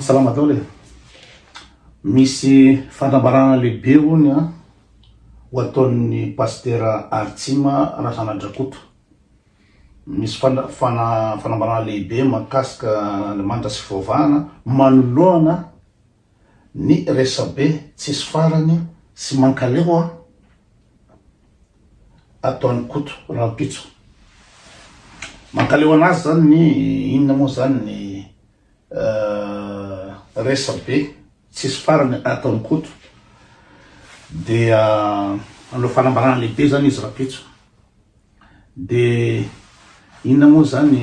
Salama daholo e! Misy fanambarana lehibe hono an, ho ataon'ny Pasitera Artsima Razanadrakoto. Misy fana fana fanambarana lehibe mahakasika Andriamanitra sy fivavahana manoloana. Ny resabe tsisy farany sy mankaleo an! ataon'i Koto rahampitso. Mankaleo anazy zany ny inona moa zany ny resabe tsisy farany ataon'i Koto dia hanao fanambarana lehibe zany izy rahampitso. Dia inona moa izany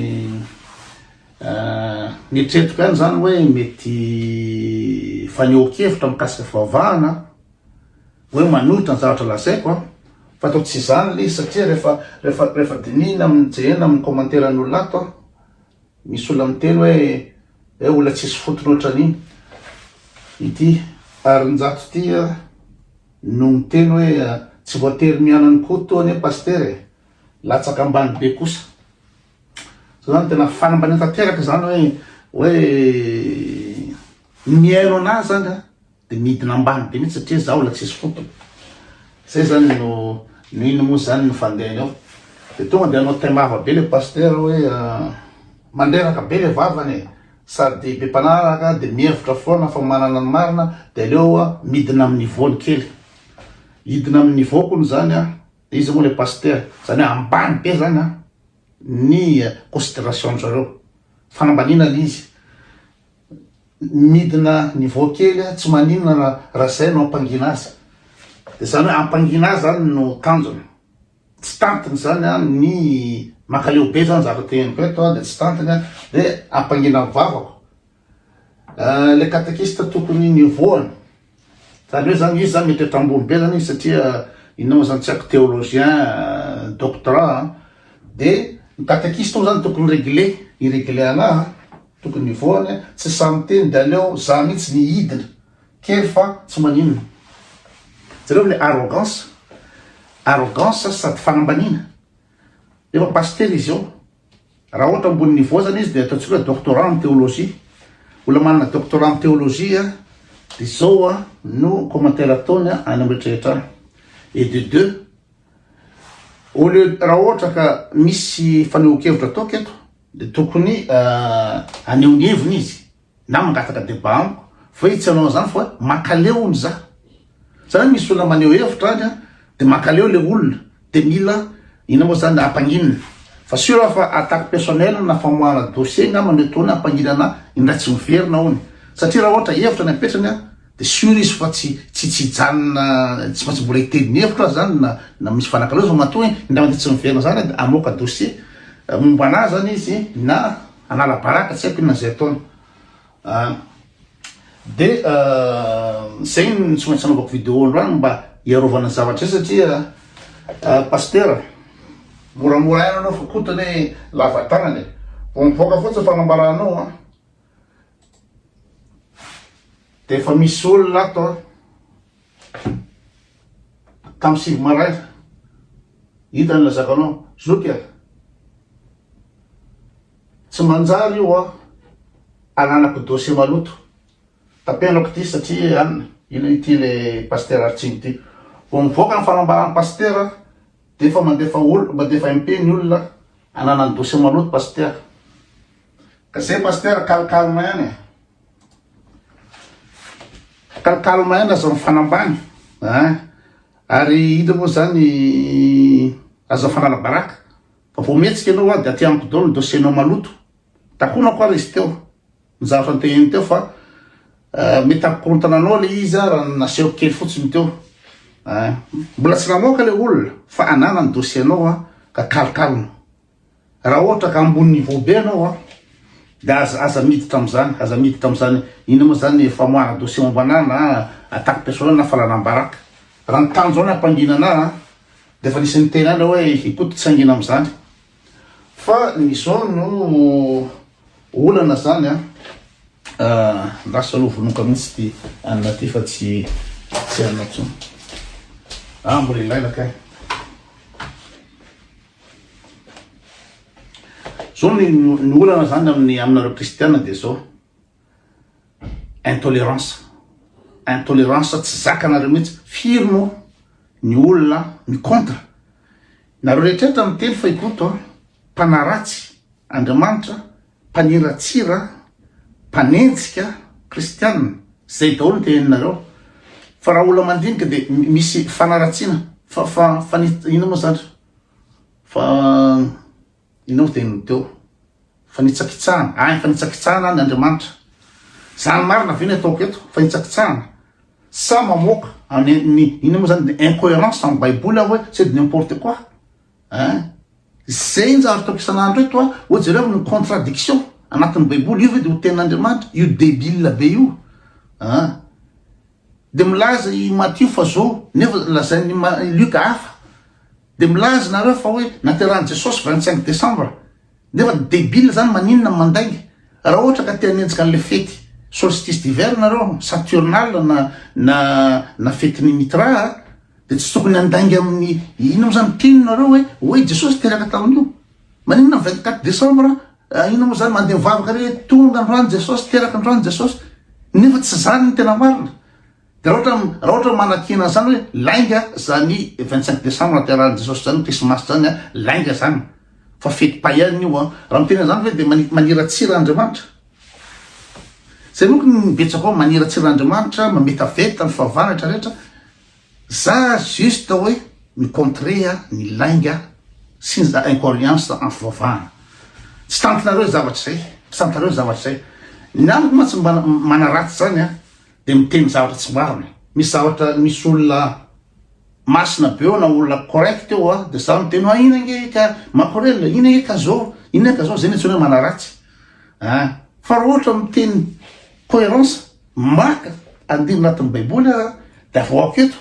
nietretiko ihany izany hoe mety fanehoan-kevitra mikasika fivavahana hoe manohitra ny zavatra lazaiko an! fa toa tsy izany ilay izy satria rehefa rehefa rehefa dinihina amin'ny jerena amin'ny commentaire-ny olona ato an! misy olona miteny hoe hoe olona tsisy fotony ohatran'iny ity Harinjato ity an! no miteny hoe tsy voatery miala an'i Koto anie Pasitera e! latsaka ambany be kosa. Zao zany tena fanambaniana tanteraka zany hoe hoe ny mihaino anazy zany a de midina ambany be mihitsy satria zaho la tsisy Koto. Zay zany no no ino moa zany no fandehany ao. De tonga de hanao taimava be le Pasitera hoe mandreraka be le vavany e! Sady dia be mpanaraka dia mihevitra foana fa manana ny marina dia aleo midina amin'ny niveau-ny kely. Hidina amin'ny niveau kony izany an, iza moa ilay pasitera? Izany hoe ambany be izany an ny consideration-njareo. Fanambaniana ilay izy. Midina niveau kely an, tsy maninona raha izay no hampangina azy. Dia izany hoe hampangina azy izany no tanjona. tsy tantiny zany an, ny makaleo be zany zavatra teneniko eto an, dia tsy tantiny an, dia ampangina ny vavako ilay katekista tokony nivohana, zany hoe zany izy zany mety eto ambony be zany izy satria inona moa zany tsy haiko theologien doctorat an, dia ny katekista moa zany tokony regle, hi-regle anahy an, tokony hivohana, tsy sahy miteny dia aleo za mihitsy ny hidina, Kely fa tsy maninona. Jereo le arrogance, arrogance sady fanambaniana. Efa pasitera izy eo. Raha ohatra ambony niveau zany izy dia ataontsika doctorat am théologie. Olona manana doctorat am théologie a, dia izao a no commentaire ataony a any am retraretra any. Et de deux, au lieu raha ohatra ka misy fanehoan-kevitra ataoko eto dia tokony haneho ny heviny izy. Na mangataka debat amiko fa hoe tsy hanao an'izany fa hoe mankaleo hono za. Zany hoe misy olona maneho hevitra any dia mankaleo ilay olona dia mila inona moa zany hampanginina. Fa sûr aho fa attaque personnelle na famoahana dossier angamba no ataony hampanginana ahy indray tsy miverina hono. Satria raha ohatra hevitra ny apetrany an dia sûr izy fa tsy tsy tsy hijanona tsy maintsy mbola hiteny ny hevitro aho zany na na misy fanakaleo zao matoa indray mandeha tsy miverina zany aho dia hamoaka dossier momba an'ahy zany izy na Hanala baraka tsy haiko inona izay ataony ah, de zay no tsy maintsy anaovako video androany mba hiarovana ny zavatra izay satria ah, pastera moramora ihany anao fa koto ny lava tanana e vao mivoaka fotsiny fanambaranao a de efa misy olona ato a Tamin'ny sivy maraina, hitany ilay zakanao, zoky a! Tsy manjary io an, ananako dossier maloto, tapenako ity satria an, ino ity ilay Pasitera Artsimo ity. Vao mivoaka ny fanambaran'ny Pasitera dia efa mandefa olona, mandefa MP ny olona ananany dossier maloto Pasitera. Ka izay Pasitera, calme calme ihany e! Tantalo maina zao mifanambany ah. Ary ino moa zany aza fanala baraka fa vao mihetsika ianao ah, de aty amiko daholo ny dossier nao maloto takonako ary izy teo ny zavatra nitehiny teo fa eh, mety hampikorontana anao le izy ah, raha nasehoko kely fotsiny teo ah. mbola tsy namoaka le olona fa ananany dossier nao ah, ka kalokalona Raha ohatra ka ambony niveau be anao a, de aza aza miditra amzany, aza miditra amzany, inona moa zany ny famoahana dossier momba anah na attaque personnel na falanam-baraka. Raha ny tanjo anah hampangina anah a, de efa nisy niteny anah hoe ikoto tsy hangina amzany. Fa ny zao no olana zany a, lasa loha vonoka mintsy ty anona ty fa tsy tsy anona tsony. Ah mbola ilaina kay. Zao ny ny olana zany amin'ny aminareo kristiana dia zao intolerance intolerance tsy zakanareo mihitsy firy moa ny olona ny contre nareo rehetrrehetra miteny fa i koto a mpanaratsy andriamanitra mpaniratsira, mpanenjika, kristiana, zay daholo ny teneninareo fa raha olona mandinika dia misy fanaratsiana fa fa fa ny inona moa zany fa inona dia ny teo fanitsakitsahana any fanitsakitsahana any Andriamanitra zany marina ve ny ataoko eto fanitsakitsahana sa mamoaka any ny inona moa zany incohérence amin'ny baiboly aho hoe c'est de n'importe quoi hein Izay no zava-bitako isan'andro eto a! Oa jereo ny contradiction anatin'ny baiboly, io ve dia ho tenin'Andriamanitra? Io debile be io a! Dia milaza i Matio fa zo, nefa lazain'i Luc hafa. Dia milaza nareo fa hoe naterahan'i Jesosy vingt cinq décembre, nefa debile zany maninona ny mandainga? Raha ohatra ka te hanenjika an'ilay fety solstice d'hiver nareo, saturnale na na fetin'i Mitra a! Dia tsy tokony handainga amin'ny inona moa izany mpino nareo hoe hoe Jesosy teraka tamin'io? Maninona ny vingt quatre decembre an? Inona moa izany mandeha mivavaka re hoe tonga androany Jesosy, teraka androany Jesosy? Nefa tsy izany ny tena marina. Dia raha ohatra raha ohatra manakena an'izany hoe lainga izany vingt cinq decembre nahaterahan'i Jesosy izany, krismasy izany an, lainga izany. Fa fety païenne io an. Raha miteny an'izany ve dia mani- maniratsira Andriamanitra? Izay manko ny betsaka ao maniratsira Andriamanitra, mametaveta ny fahavalony rehetra rehetra. Za juste hoe mi contrer ny lainga sy ny za incoherience en fivavahana. Tsy tantinareo zavatra zay, tsy tantinareo zavatra zay. Ny amiko mantsy mba manaratsy zany a de miteny zavatra tsy marina. Misy zavatra misy olona masina be eo na olona correct eo a de za miteny hoe ina nge ka makorelina, ina nge ka zao, ina ka zao, zay no antsoina hoe manaratsy a. Fa ra ohatra miteny coherence Marc, andiany anatin'ny baiboly aho dia avoako eto,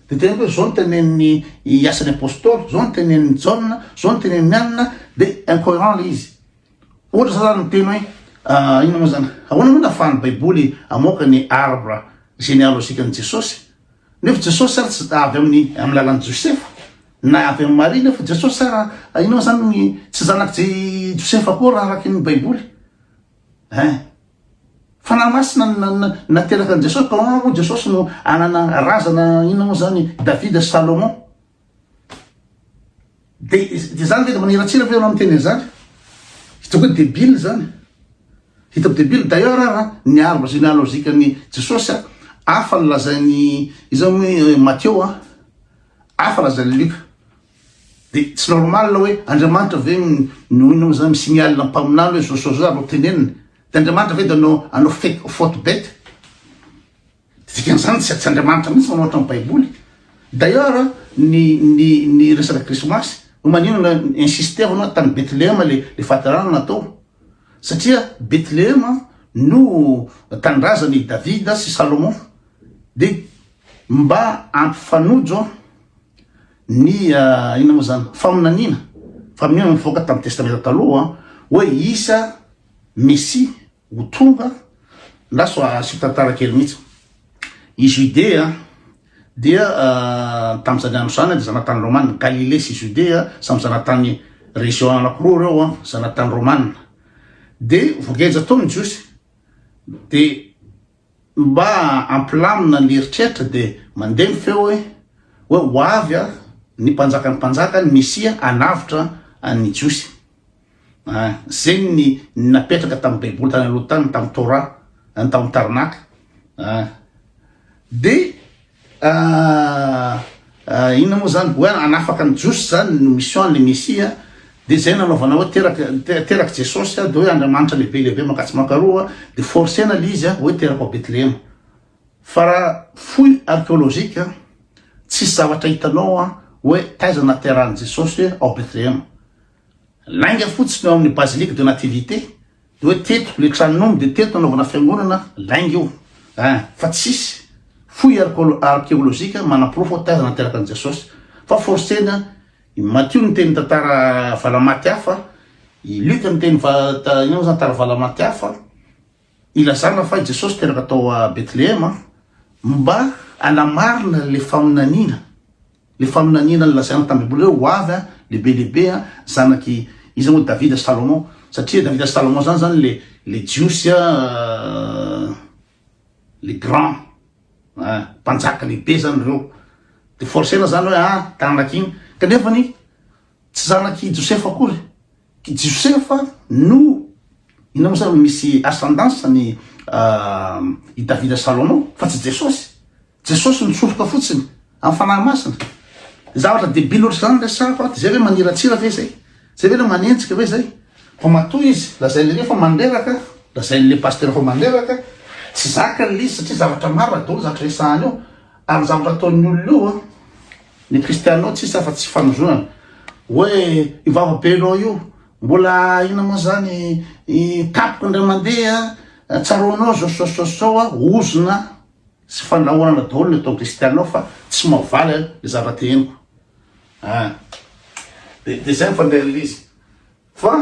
dia teneniko hoe zao ny tenenin'ny i asan'ny apostoly, zao ny tenenin'ny jaona, zao ny tenenin'ny anina, dia incoherent le izy. Ohatra za zany miteny hoe ah, inona moa zany, ahoana moa nafahan'ny baiboly amoaka ny arbre généalogique an'i Jesosy? Nefa Jesosy zany tsy avy amin'ny amin'ny lalan'i Josefa, na avy amin'i Maria nefa Jesosy sara ah, inona moa zany ny tsy zanak'i Josefa koa raha araky ny baiboly? Hein. Fanahy Masina no nateraka an'i Jesosy, ka hono moa Jesosy no hanana razana inona moa izany, Davida sy Salomon. Dia izany ve dia maniratsira ve ianao miteny an'izany? Hitako hoe debile izany. Hitako debile. D'ailleurs ara, ny arbre généalogique an'i Jesosy, hafa ny lazain'i, iza moa i Matthieu, hafa lazain'i Luc. De tsy normal hoe Andriamanitra ve no inona zany mi-signale mpaminany hoe zao zao zany ro teneniny? De Andriamanitra ve de no hanao fety faute bete? Dikan'izany tsy tsy Andriamanitra mihitsy manao ohatran'ny baiboly. D'ailleurs ny ny ny resaka krismasy no maninona insister-na tany Betlehem le le fahaterahana natao? Satria Betlehem no tanindrazan' i Davida sy Salomon. De mba hampifanojo Ny inona moa izany? Faminaniana. Faminaniana nivoaka tamin'ny Testamenta Taloha hoe hisy Mesia ho tonga. Andraso asio tantara kely mihitsy. I Judea dia tamin'izany andro izany dia zanatany Romana. Galilée sy Judea samy zanatany région anakiroa ireo, zanatany Romana. Dia voageja tao ny Jiosy. Dia Mba hampilamina ny eritreritra dia mandeha ny feo hoe, hoe ho avy a, ny mpanjakan'ny mpanjaka, ny Mesia hanavotra ny Jiosy. A, zegny ny ny napetraka tamin'ny baiboly tany aloha tany, tamin'ny Torah, tao amin'ny taranaka. A, dia. Ah inona moa zany hoe hanafaka ny jiosy zany no mission ny mesia de zay nanaovana hoe teraka teraka jesosy de hoe andriamanitra lehibe lehibe makatsy makaroa de forcena le izy hoe teraka ao betlehema fa raha fouille archéologique tsisy zavatra hitanao hoe taiza naterahany jesosy ao betlehema Lainga fotsiny eo amin'ny Basilique de Nativité dia hoe teto le tranon'omby dia teto nanaovana fiangonana, lainga io eh, fa tsisy fouille archeologique manaporofo hoe taiza nateraka an'i Jesosy, fa forcena i Matio niteny tantara valamaty hafa, i Luc niteny inona moa zany tantara valamaty hafa, Ilazana fa i Jesosy teraka tao Betlehema mba hanamarina le faminaniana, le faminaniana nilazaina tamin'ny Baiboly hoe ho avy an, lehibe lehibe an, zanak'i, iza moa, Davida sy Salomon, satria Davida sy Salomon zany zany le, le Jiosy an, le grand, an, mpanjaka lehibe zany reo, de forcena zany hoe an, tanak' iny, kanefany tsy zanak'i Josefa akory, I Josefa no inona moa zany no misy ascendance ny i Davida Salomon fa tsy Jesosy. Jesosy nitsoroka fotsiny amin'ny Fanahy Masina. Zavatra debile ohatry zany resahako ato, zay ve maniratsira ve zay? Zay ve le manenjika ve zay? Vao matoa izy lazain'i re fa mandreraka, lazain'le pasteur fa mandreraka, tsy zakany le izy satria zavatra marina daholo ny zavatra resahany eo ary ny zavatra ataon'ny olona io an, Ny kristianina tsisy afa tsy fanozonana. Hoe io vavabenao io mbola ina moa zany i tapoko indray mandeha tsaroanao zao sao sao sao a ozona sy fandrahonana daholo ny ataon'ny kristianina fa tsy mavaly a le zavatra te henoko a de de zay mifandray le izy fa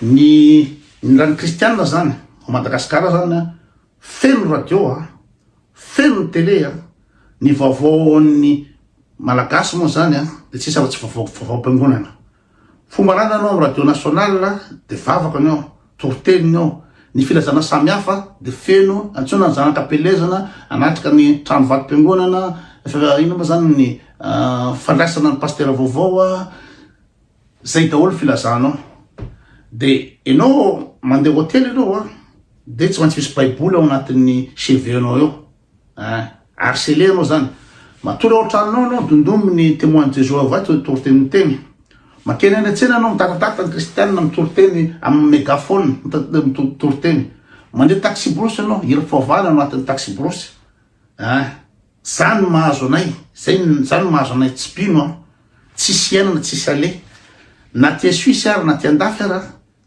ny ny ran'ny kristianina zany ao madagasikara zany a Feno radio a! Feno ny tele a! Ny vaovao ao amin'ny Malagasy moa izany a, dia tsy misy afa-tsy vaovao vaovaom-piangonana. Fomba ananany ao amin'ny radio national dia vavaka ny ao, toriteny ny ao. Ny filazana samihafa dia feno, antsoina ny zanaka am-pielezana hanatrika ny trano vatom-piangonana, inona moa izany ny fandraisana ny pasitera vaovao a! Zay daholo filazanao de enao mandeha hotely enao a de tsy maintsy misy baiboly ao anatin'ny cheveux nao eo a harceler anao zany matory ao an-tranonao anao dondomy ny témoin de Jésus avy ato mitory teny ny teny makeny any an-tsena anao mitatatata ny kristianina mitory teny amin'ny megaphone mitory teny mandeha taxi brousse anao hira faovana ao anatin'ny taxi brousse Ah! Zany no mahazo anay, zay zany no mahazo anay tsy mpino an! Tsisy iainana tsisy ale! Na aty Suisse ara na aty andafy ara,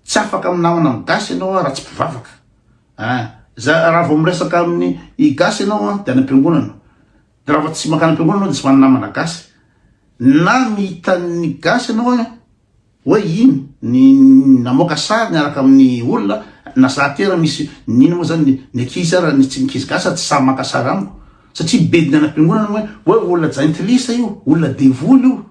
tsy afaka minamana amin'ny gasy ianao an raha tsy mpivavaka! Ah! Za raha vao miresaka amin'ny i gasy ianao an dia any am-piangonana! Dia raha vao tsy mankany am-piangonana ianao dia tsy manana namana gasy! Na mihita ny gasy ianao an, Hoe iny ny namoaka sary niaraka amin'ny olona na za aty ara misy ny ino moa zany ny ankizy ara ny tsy ankizy gasy tsy sahy maka sary amiko satria bediny any am-piangonana moa hoe hoe olona jaintilisa io olona devoly io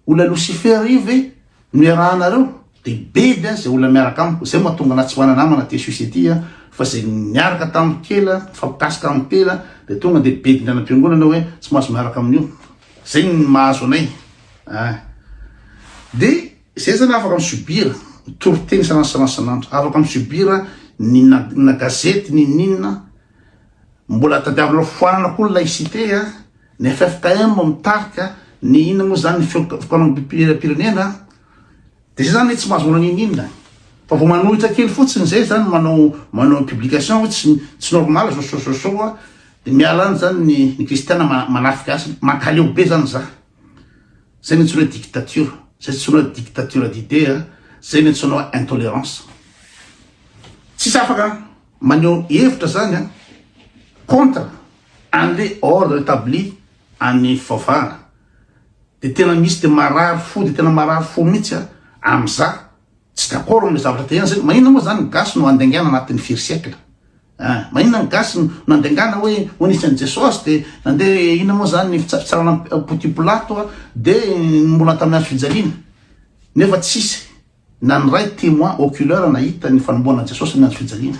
olona losifera io ve no iarahanareo de bedy an zay olona miaraka amiko zay mahatonga anahy tsy manana namana aty suisse aty an fa zay niaraka tamin'ny kely an mifampikasika amin'ny tena de tonga de bediny any am-piangonana hoe tsy mahazo miaraka amin'io zay ny mahazo anay Ah. De zay zany afaka mi subir toriteny sanasanasanandro, afaka mi subir ny na gazety ninoninona, mbola tadiavinao foanana koa ny laïcité a, ny ffkm mitarika, ny inona moa zany ny fikambanam-pirenena, de zay zany tsy mahazo manao ninoninona, fa vao manohitra kely fotsiny zay zany manao manao publication hoe tsy tsy normal zao so so so a, de miala any zany ny ny kristiana manafika azy, mankaleo be zany za. Zay no antsoina hoe dictature. Zay antsoina hoe dictature d'idée, zay no antsoina hoe intolerance. Tsisy afaka maneho hevitra zany an, contre an'le ordre établi an'i Fofana. De tena misy de marary fo, de tena marary fo mihitsy an, amin'za Tsy d'accord amle zavatra te enjy, maninona moa zany ny gasy no handaingana anatin'ny firy siècle ah, maninona ny gasy no nandaingana hoe ho nisy an'i Jesosy de nande inona moa zany ny fitsarana poty polato ah, de mbola tamin'ny hazo fijaliana nefa tsisy na ny ray témoin oculaire nahita ny fanomboana an'i Jesosy ny hazo fijaliana.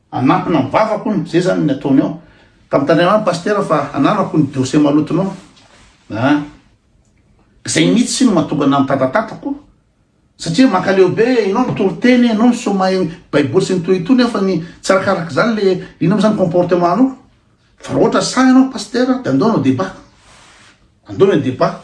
Hanampina ny vavako hono, zay zany ny ataony ao. Ka mitandrema amiko Pasitera fa ananako ny dossier malotonao a! Zay mitsy no mahatonga anah mitatatatako satria mankaleo be enao mitory teny enao misoma baiboly sy ny toy itony aho fa ny tsy arakaraky zany le ino mo zany comportement anao. Fa raha ohatra sahy ianao Pasitera dia andao hanao débat. Andao ilay débat.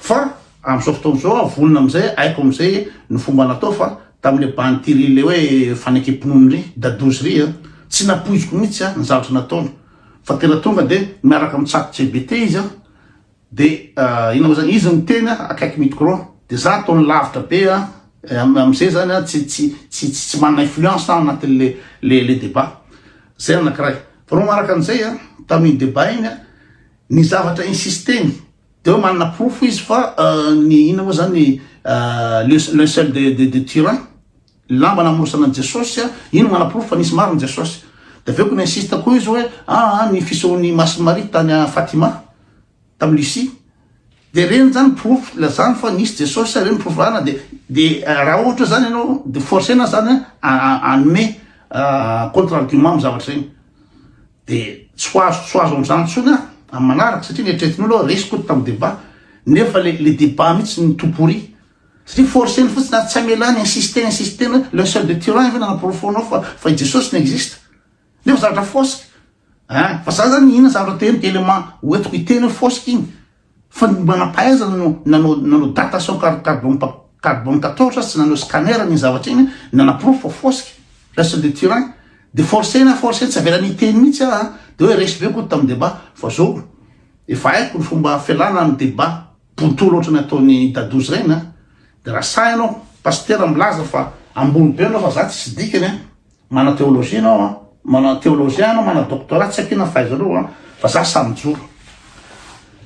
Fa amin'izao fotoana izao aho vonona amin'izay, haiko amin'izay ny fomba natao fa tamin'ilay bandy Thierry ilay hoe fanekem-pinoany iry, Dadouzy iry an, tsy nampoiziko mihitsy an ny zavatra nataony. Fa tena tonga dia miaraka amin'ny tsato-JBT izy an, De inona moa zany izy no tena akaiky micro de za ataony lavitra be a amizay zany a tsy tsy tsy tsy manana influence aho anatin le le le debat zay anakiray fa no manaraka anizay a tamin debat iny a ny zavatra insisteny de hoe manana porofo izy fa ny inona moa zany le le seul de de de tyran Lamba namorosana an'i Jesosy a! Iny no manaporofo fa nisy marina Jesosy. Dia avy eo koa ni-insiste koa izy hoe aa ny fisehoan'i Masy Maria tany a Fatima tamin'i Lucie. Dia ireny izany porofo ilazany fa nisy Jesosy a, ireny no porofo ilazana dia dia raha ohatra izany ianao dia forcer-na izany a hanome contre argument amin'ny zavatra ireny. Dia tsy ho azo tsy ho azo amin'izany intsony aho amin'ny manaraka satria ny eritreretin'olo resy koa tamin'ny débat nefa le le débat mihitsy no tout pourri. Satria forceny fotsiny ary tsy amelany insister insister hoe le seul de Turin ve nanaporofoanao fa fa i Jesosy no existe? Nefa zavatra fausse eh fa za zany inona zavatra te hoe element hoentiko hiteny hoe fausse iny fa ny manam-pahaizana no nanao nanao datation car carbone pa- carbone 14 sy nanao scanner an'iny zavatra iny nanaporofo fa fausse le seul de Turin de forceny ah forceny tsy avelany hiteny mihitsy ah de hoe resy be koa tamin'ny débat fa zao efa haiko ny fomba fialana amin'ny débat Bontolo ohatrany ataony dadozy reny a! De raha sahy anao pasitera milaza fa ambony be anao fa za tsisy dikany a! Mana theologie anao a! Mana theologien anao mana doctorat tsy akia na fahaizanao a! Fa za sahy mijoro!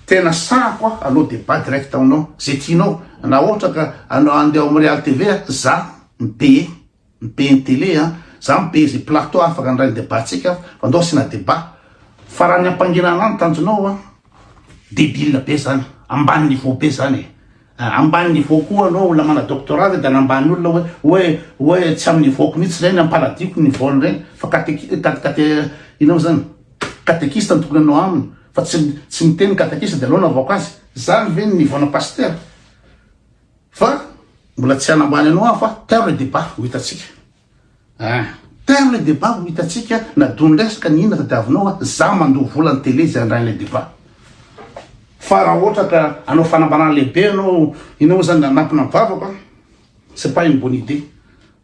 Tena sahy ko a! Aleo debat direct aminao ze tianao! Na ohatra ka anao andeha ao am real TV a! Za mi payer Be ny télé an! Za mi be ze plateau afaka handray ny debat tsika fa ndao asiana debat fa raha ny ampangerana an tanjonao an debile be zany ambany niveau be zany e! An! Ambany niveau koa anao olona mana doctorat ve de anambany olona oe oe oe tsy am niveau-ko mihitsy reny ampaladiko niveau-ny reny fa kateki kate kate ino mo zany katekista no tokony anao aminy fa tsy tsy miteny ny katekista de aleo anavako azy! Zany ve ny niveau-na pasitera? Fa mbola tsy hanambany anao aho fa teo le debat ho hitantsika. Ah, teo le debat ho hitantsika na dony resaka ny inona tadiavinao a, za mandoa vola ny tele zay handray le debat. Fa raha ohatra ka hanao fanambanana lehibe ianao, inona moa zany nanampina ny vavako a, c'est pas une bonne idée.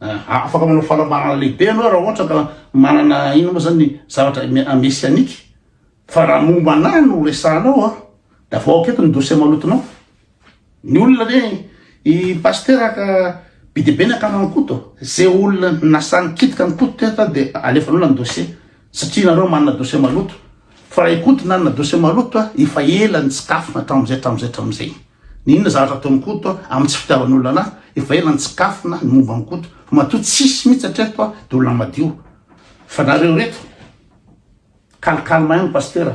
Ah, afaka manao fanambanana lehibe ianao raha ohatra ka manana inona moa zany zavatra messianique. Fa raha momba anahy no resahanao a, de avoahako eto ny dossier malotonao. Ny olona ve i pasitera ka be dia be ny akaman'i Koto? Izay olona nasaha nikitika an'i Koto teto dia alefanareo ny dossier satria nareo manana dossier maloto. Fa raha i Koto nanana dossier maloto efa ela nitsikafona hatramin'izay hatramin'izay hatramin'izay. Ny inona zavatra ataon'i Koto amin'ny tsy fitiavan'olona anahy efa ela nitsikafona ny momba an'i Koto. Fa matoa tsisy mihitsy hatreto dia olona madio. Fa nareo reto calme calme ihany pasitera.